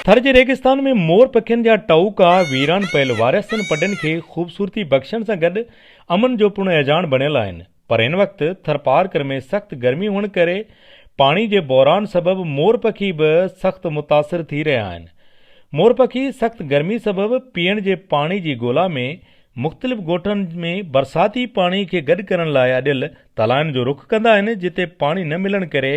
ٿر جي ريگستان ۾ مور پکين جا ٽهوڪا ويران پيل وارهستن پڊن کي خوبصورتي بخشڻ سان گڏ امن جو پڻ اهجاڻ بڻيل آهن پر هن وقت ٿرپارڪر ۾ سخت گرمي هئڻ ڪري پاڻي جي بحران سبب مور پکي به سخت متاثر ٿي رهيا آهن مور پکي سخت گرمي سبب پيئڻ جي پاڻي جي ڳولا ۾ مختلف ڳوٺن ۾ برساتي پاڻي کي گڏ ڪرڻ لاء اڏيل تلائن جو رخ ڪندا آهن، جتي پاڻي نه ملڻ ڪري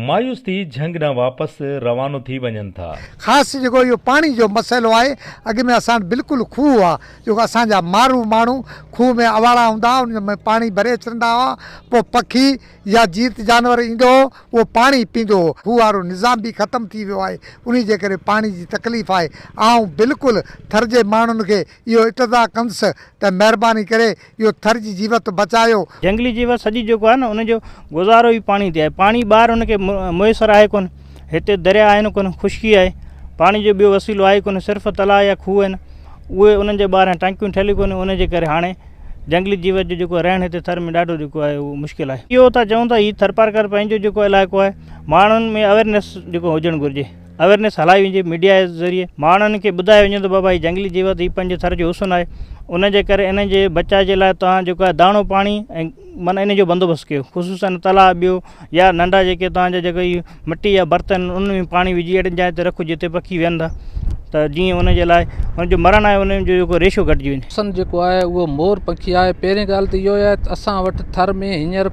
مايوس ٿي جهنگ ڏانهن واپس روانو ٿي وڃن ٿا. خاص جيڪو اهو پاڻي جو مسئلو آهي، اڳ ۾ اسان وٽ بلڪل کوهه هئا، جيڪو اسان جا مارو ماڻهو کوهه ۾ اواڙا هوندا هئا، انهن ۾ پاڻي ڀري اچرندا هئا، پوء پکي يا جيت جانور ايندو هو، اهو پاڻي پيندو هو. کوهه وارو نظام به ختم ٿي ويو آهي، انهي جي ڪري پاڻي جي تڪليف آهي. آئون بلڪل ٿر جي ماڻهن کي اهو اقتضا ڪندس ته مهرباني ڪري اهو ٿر جي جيوت بچايو. جهنگلي جيوت سڄي جيڪو آهي نه ان جو گذارو ئي پاڻي تي آهي پاڻي ٻاهر ان کي ميسر آهي ڪونه هتي دريا آهن ڪونه خشڪي آهي پاڻي جو ٻيو وسيلو آهي ڪونه صرف تلاء يا کوهه آهن اهي انهن جي ٻاهران ٽنڪيون ٺهيل ڪونه ان جي ڪري هاڻي جهنگلي جيوت جو جيڪو رهڻ هتي ٿر ۾ ڏاڍو جيڪو آهي اهو مشڪل آهي اهو ٿا چئون ته هي ٿرپارڪر پنهنجو جيڪو علائقو آهي ماڻهن ۾ اويرنس جيڪو هجڻ گهرجي. اويرنيس هلائي وڃي ميڊيا جي ذريعي ماڻهن کي ٻڌايو وڃي ته بابا هي جنگلي جيوت هي پنهنجي ٿر جو حسن آهي ان جي ڪري انهن جي بچاء جي لاء توهان جيڪو آهي داڻو پاڻي ۽ معنيٰ ان جو بندوبست ڪيو خصوصن تلاء ٻيو يا ننڍا جيڪي توهان جا جيڪي هي مٽي جا برتن ان ۾ پاڻي وجهي اهڙين جاين تي رکو جتي پکي ويهن ٿا ته جيئن ان جي لاء ان جو مرڻ آهي ان جو جيڪو ريشو گهٽجي وڃي حسن جيڪو آهي اهو مور پکي آهي پهرين ڳالهه ته اهو آهي ته اسان وٽ ٿر ۾ هينئر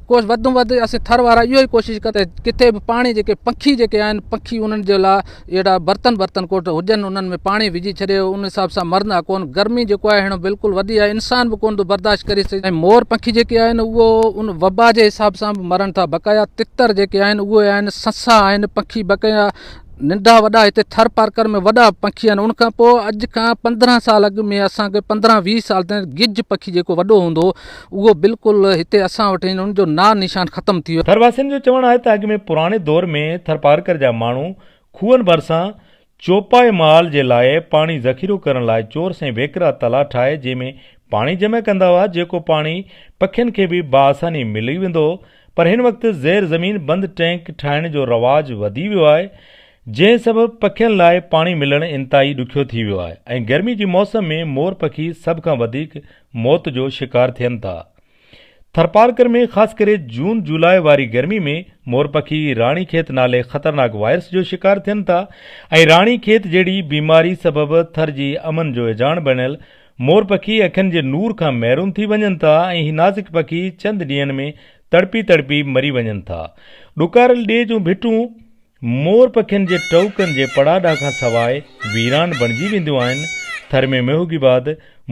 ڪوس وڌ ۾ وڌ اسين ٿر وارا اهو ئي ڪوشش ڪري ڪٿي به پاڻي جيڪي پکي جيڪي آهن پکي انهن جي لاء اهڙا برتن برتن ڪوٽ هجن انهن ۾ پاڻي وجهي ڇڏي ان حساب سان مرندا ڪون گرمي جيڪو آهي هيڻو بلڪل وڌي آهي انسان به ڪون ٿو برداشت ڪري سگهي ۽ مور پکي جيڪي آهن اهو ان وبا جي حساب سان به مرن ٿا بقايا تتر جيڪي آهن اهي آهن سسا آهن پکي بقايا ننڍا وڏا هتي ٿر پارڪر ۾ وڏا پکي آهن ان کان پوء اڄ کان پندرهن سال اڳ ۾ اسان کي پندرهن ويهه سال تائين گج پکي جيڪو وڏو هوندو هو اهو بلڪل هتي اسان وٽ آهن ان جو نانء نشان ختم ٿي ويو. ٿرواسين جو چوڻ آهي ته اڳ ۾ پراڻي دور ۾ ٿرپارڪر جا ماڻهو کوهن ڀرسان چوپائي مال جي لاء پاڻي ذخيرو ڪرڻ لاء چور سين ويڪرا تلاء ٺاهي جنهن ۾ پاڻي جمع ڪندا هئا جيڪو پاڻي پکين کي به بآساني ملي ويندو هو پر هن وقت زير زمين بند ٽينڪ ٺاهڻ جو رواج وڌي ويو آهي جنهن سبب پکين لاء پاڻي ملڻ انتهائي ڏکيو ٿي ويو آهي ۽ گرمي جي موسم ۾ مور پکي سڀ کان وڌيڪ موت جو شڪار ٿين ٿا. ٿرپارڪر ۾ خاص ڪري جون جولاء واري گرمي ۾ مورپکي راڻي کيت نالي خطرناڪ وائرس جو شڪار ٿين ٿا ۽ راڻي کيت جهڙي بيماري سبب ٿر جي امن جو اجهاڻ بڻيل مورپکي اکين جي نور کان محروم ٿي وڃن ٿا ۽ هي نازڪ پکي چند ڏينهن ۾ تڙپي تڙپي مري وڃن ٿا. ڏڪارل ڏيهه جون ڀٽون مور پکين جي ٽهڪن جي پڙاڏا کان سواء ويران بڻجي وينديون آهن، ٿر ۾ ميوگي بعد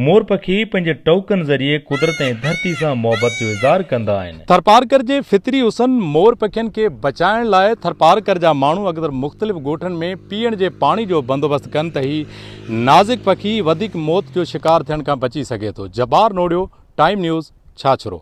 مور پکي پنهنجي ٽهڪن ذريعي قدرت ۽ ڌرتي سان محبت جو اظهار ڪندا آهن. ٿرپارڪر جي فطري حسن مور پکين کي بچائڻ لاء ٿرپارڪر جا ماڻهو اڪثر مختلف ڳوٺن ۾ پيئڻ جي پاڻي جو بندوبست ڪن ته هي نازڪ پکي وڌيڪ موت جو شڪار ٿيڻ کان بچي سگهي ٿو. Jabbar Norio, time news, Chachro.